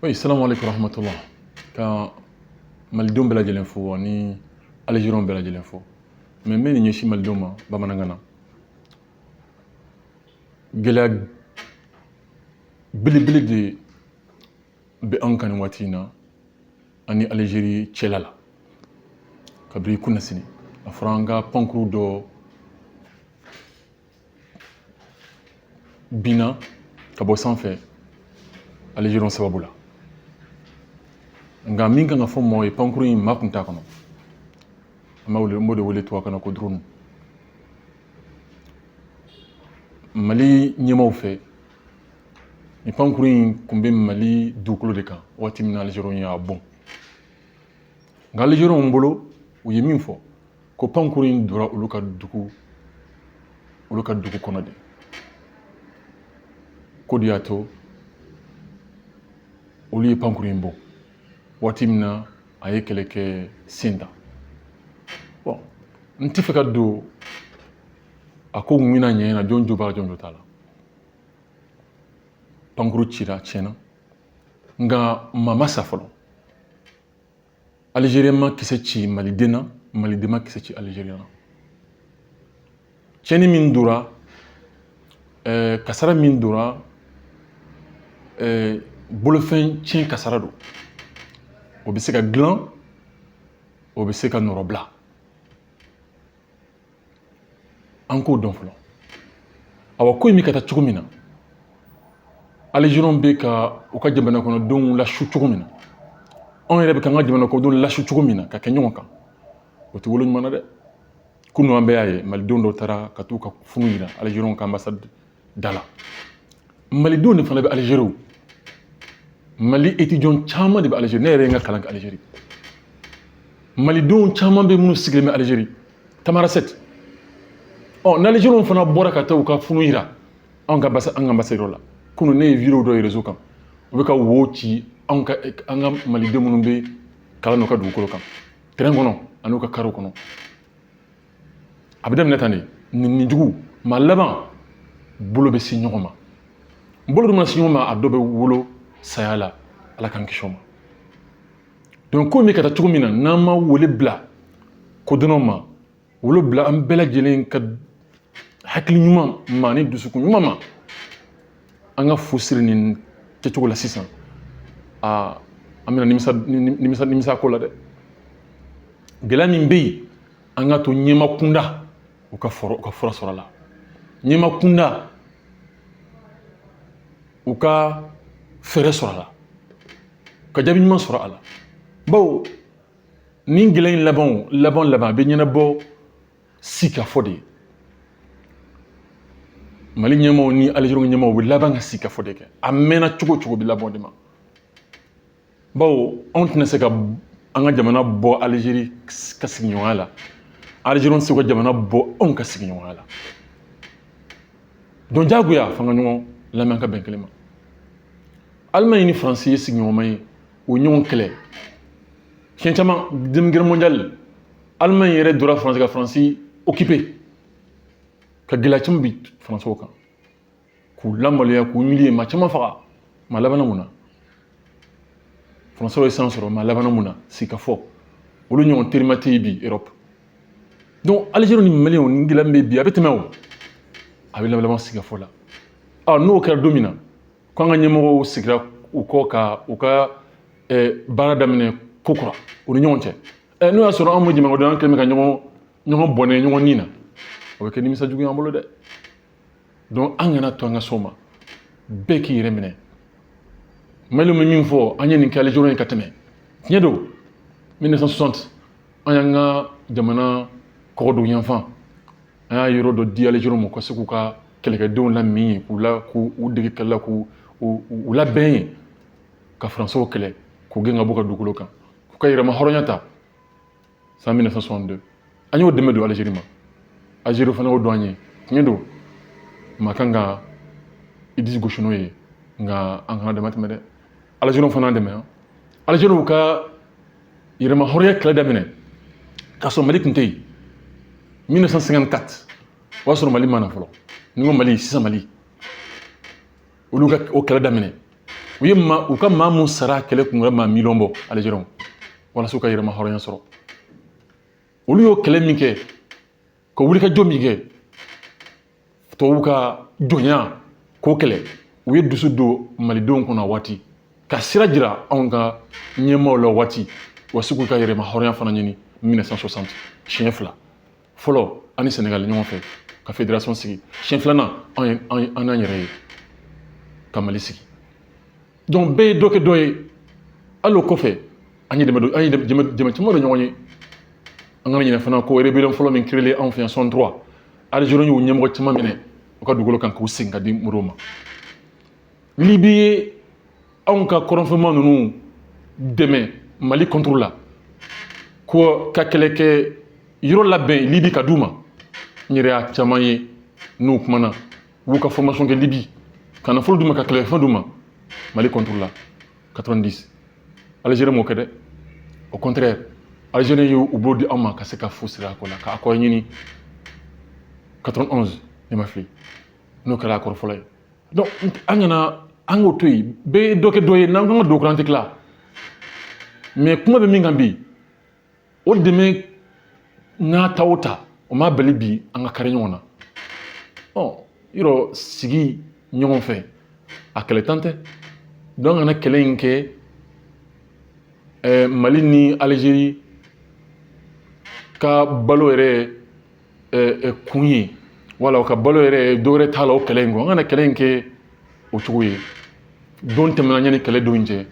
Oui, salam alaikum rahmatullah. Ka malidenw bɛɛ lajɛlen fo ani Algériens bɛɛ lajɛlen fo. Mais n bɛ nin ɲɛsin malidenw ma bamanankan na. Gɛlɛya belebele de bɛ anw kan nin waati in na ani Algérie cɛla la. Kabiri kunasini a fɔra an ka pankuru dɔ binna ka bɔ sanfɛ alizeriw sababu la nka min kan ka fɔ maaw ye pankuru in maa kun t'a kɔnɔ an b'a wele n b'o de wele tubabukan na ko drone mali ɲɛmaaw fɛ nin pankuru in kun bɛ mali dugukolo de kan waati min na alizeriw y'a bon nka alizeriw bolo u ye min fɔ ko pankuru in donna olu ka dugu olu ka dugu kɔnɔ de k'o de y'a to olu ye pankuru in bon waati min na a ye kɛlɛkɛ sen ta bon n tɛ fɛ ka don a ko mun bɛna ɲɛ na jɔn jo b'a la jɔn jo t'a la pankuru cira tiɲɛna nka maa ma sa fɔlɔ alizeriyɛn ma kisɛ ci maliden na maliden ma kisɛ ci alizeriyɛn na tiɲɛni min donna eh, kasara min donna eh, bolofɛn tiɲɛ kasara don o bɛ se ka dilan o bɛ se ka nɔrɔbila an k'o dɔn fɔlɔ awa ko in bɛ ka taa cogo min na alizeriyɛnw bɛ ka u ka jamana kɔnɔdenw lasu cogo min na anw yɛrɛ bɛ ka an ka jamana kɔnɔdenw lasu cogo min na ka kɛ ɲɔgɔn kan o tɛ wolo ɲuman na dɛ kunun an bɛɛ y'a ye malidenw dɔw taara ka t'u ka funu yira alizeriyɛnw ka anbasadi da la malidenw de fana bɛ alizeri mali etidiyan caman de bɛ alizeri ne yɛrɛ ye n ka kalan kɛ alizeri malidenw caman bɛ minnu sigilen bɛ alizeri tamarasɛti ɔ n'alizeriw fana bɔra ka taa u ka funu yira anw ka basa an ka anbasadi la kunu ne ye video dɔ ye rezo kan u bɛ ka wo ci anw ka an ka malidenw minnu bɛ kalan n'u ka dugukolo kan tɛrɛn kɔnɔ an'u ka kariw kɔnɔ a bɛ daminɛ tan de nɛnini jugu maa laban bolo bɛ se ɲɔgɔn ma bolo dun mana se ɲɔgɔn ma a dɔ bɛ wolo saya la ala k'an kisi o ma donc ko in bɛ ka taa cogo min na n'an ma wele bila kodɔnnaw ma wele bila an bɛɛ lajɛlen ka hakili ɲuman ma ni dusukun ɲuman ma an ka fu siri nin kɛcogo la sisan aa an bɛna nimisa nimisa nimisa ko la dɛ gɛlɛya min bɛ yen an ka to ɲɛmaa kunda u ka fura sɔrɔ a la ɲɛmaa kunda u ka fɛɛrɛ sɔrɔ a la ka jaabi ɲuman sɔrɔ a la bawo nin gɛlɛya in laban o laban laban a bɛ ɲɛnabɔ sikafɔ de ye mali ɲɛmaaw ni alizeri ɲɛmaaw u bɛ laban ka sikafɔ de kɛ a mɛnna cogo o cogo bɛ laban o de ma bawo anw tɛna se ka an ka jamana bɔ alizeri ka sigiɲɔgɔnya la alizeri tɛ se ka jamana bɔ anw ka sigiɲɔgɔnya la donc jagoya f'an ka ɲɔgɔn lamɛn ka bɛn kelen ma alimaɲi ni faransi ye sigiɲɔgɔnma ye u ye ɲɔgɔn kɛlɛ siɲɛ caman deuxième guerre mondiale alimaɲi yɛrɛ donna faransi ka faransi occuper ka gɛlɛya caman bin faransɛw kan k'u lamaloya k'u humilier maa caman faga mais a labanna mun na faransɛw ye san sɔrɔ mais a labanna mun na sikafɔ olu ɲɔgɔn terima tɛ yen bi europe donc alizeri ni mali o nin gɛlɛya min bɛ bi a bɛ tɛmɛ o a bɛ laban sikafɔ la ɔ n'o kɛra don min na ko an ka ɲɛmɔgɔw sigira u kɔ ka u ka baara daminɛ kokura u ni ɲɔgɔn cɛ ɛ n'o y'a sɔrɔ an ma jamanakɔnɔdenw kɛlen bɛ ka ɲɔgɔn ɲɔgɔn bɔnɛ ɲɔgɔn ni na o bɛ kɛ nimisa jugu y'an bolo dɛ donc an kana to an ka s'o ma bɛɛ k'i yɛrɛ minɛ mali bɛ min fɔ an ye nin kɛ alizeri ye ka tɛmɛ tiɲɛ don 1960 an y'an ka jamana kɔgɔdugu yanfan an y'a yɔrɔ dɔ di alizeri ma u ka se k'u ka kɛlɛkɛdenw laminɛ yen k'u la k'u u dege kɛlɛ la k'u u labɛn yen ka faransɛw kɛlɛ k'u gɛn ka bɔ u ka dugukolo kan k'u ka yɛrɛmahɔrɔnya ta san 1962 an y'o dɛmɛ don aliziri ma aliziri fana y'o dɔn an ye tiɲɛ don maa kan ka i disi gosi n'o ye nka an kana dama tɛmɛ dɛ aliziriw fana y'an dɛmɛ aliziriw ka yɛrɛmahɔrɔnya kɛlɛ daminɛ k'a sɔrɔ mali tun tɛ yen 1954 o y'a sɔrɔ mali ma na fɔlɔ n'i ko mali sisan mali olu ka o kɛlɛ daminɛ u ye ma u ka maa mun sara kɛlɛ kun wɛrɛ maa miliyɔn bɔ algériens walasa u ka yɛrɛmahɔrɔnya sɔrɔ olu y'o kɛlɛ min kɛ ka wulikajɔ min kɛ tubabuw ka jɔnya k'o kɛlɛ u ye dusu don malidenw kɔnɔ o waati ka sira jira anw ka ɲɛmaaw la o waati u ka se k'u ka yɛrɛmahɔrɔnya fana ɲini 1960 siɲɛ fila fɔlɔ an ni sɛnɛgali ɲɔgɔn fɛ ka fédération sigi siɲɛ filanan an ye an n'an yɛrɛ ye ka mali sigi donc bɛɛ ye dɔ kɛ dɔ ye hali o kɔfɛ an ye dɛmɛ don an ye dɛmɛ caman don ɲɔgɔn ye an kana ɲinɛ fana ko rébellion fɔlɔ min créer anw fɛ yan 63 Algérie y'u ɲɛmɔgɔ caman minɛ u ka dugukolo kan k'u segin ka di modibo ma libi ye anw ka kɔrɔnfɛmaa ninnu dɛmɛ mali contre la ko ka kɛlɛkɛyɔrɔ labɛn libi ka d'u ma n yɛrɛ y'a caman ye n'u kumana u b'u ka formation kɛ libi ka nafolo d'u ma ka kɛlɛkɛfɛn d'u ma mali contre la 90 algérie m'o kɛ dɛ au contraire algérie y'u bolo di an ma ka se ka fu siri ko la ka accord ɲini 91 ni n ma fili n'o kɛra accord fɔlɔ ye donc an kana an k'o to yen bɛɛ ye dɔ kɛ dɔ ye n'an ko ka don kɔrɔ an tɛ tila mais kuma bɛ min kan bi o dɛmɛ n'a ta o ta o ma bali bi an ka kari ɲɔgɔn na ɔ yɔrɔ sigi ɲɔgɔn fɛ a kɛlɛntan tɛ donc an kana kɛlɛ in kɛ ɛɛ mali ni algérie ka balo yɛrɛ kun ye wala o ka balo yɛrɛ dɔ wɛrɛ t'a la o kɛlɛ in kɔ an kana kɛlɛ in kɛ o cogo ye don tɛmɛna yanni kɛlɛ don cɛ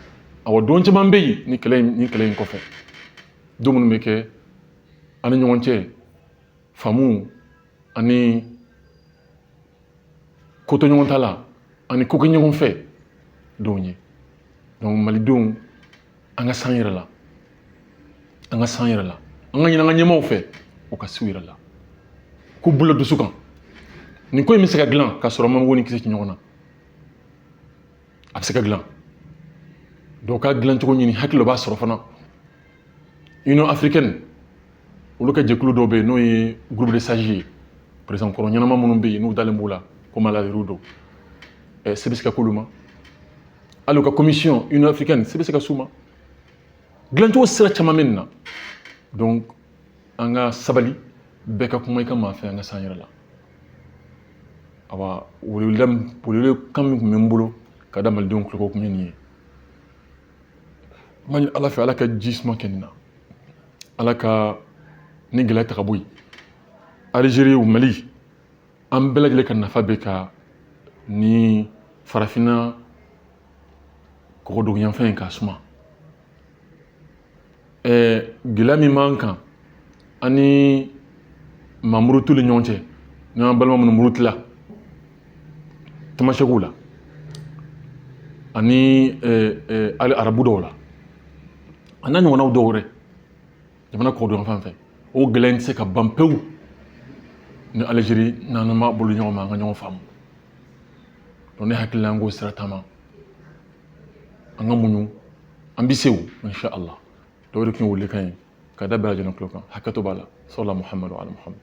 awɔ don caman bɛ yen ni kɛlɛ in kɔfɛ don minnu bɛ kɛ an ni ɲɔgɔn cɛ faamu ani kotoɲɔgɔntala ani kokɛɲɔgɔnfɛ don ye donc malidenw an ka s'an yɛrɛ la an ka s'an yɛrɛ la an k'a ɲini an ka ɲɛmaaw fɛ u ka s'u yɛrɛ la k'u bolo dusu kan nin ko in bɛ se ka dilan k'a sɔrɔ an ma mugu ni kisɛ ci ɲɔgɔn na a bɛ se ka dilan donc a dilancogo ɲini hakili b'a sɔrɔ fana union africaine olu ka jɛkulu dɔ bɛ yen n'o ye groupe de sages ye président kɔrɔ ɲɛnama minnu bɛ yen n'u dalen b'u la ko maa laadiriw don se bɛ se ka k'olu ma hali u ka commission union africaine se bɛ se ka s'u ma dilancogo sira caman bɛ nin na donc an ka sabali bɛɛ ka kuma i ka maa fɛ an ka s'an yɛrɛ la awa weleweleda welewelekan min tun bɛ n bolo ka da malidenw tulo tun ye nin ye n b'a ɲini ala fɛ ala ka ji suma kɛ nin na ala ka nin gɛlɛya ta ka bɔ yen algérie mali an bɛɛ lajɛlen ka nafa bɛ ka ni farafinna kɔgɔduguyanfan in ka suma ɛɛ gɛlɛya min b'an kan an ni maa murutilen ɲɔgɔn cɛ n'an balima minnu murutila tamasɛkiw la ani hali arabu dɔw la a n'a ɲɔgɔnnaw dɔw wɛrɛ jamana kɔgɔduguyanfan fɛ o gɛlɛya in tɛ se ka ban pewu ni algérie n'an ma bolo ɲɔgɔn ma an ka ɲɔgɔn faamu donc ne hakili la an k'o sira taama an ka muɲu an bɛ se o insha allah donc o de tun ye welekan ye ka da bɛɛ lajɛlen tulo kan hakɛto b'a la sallallahu muhamadu ala muhamadu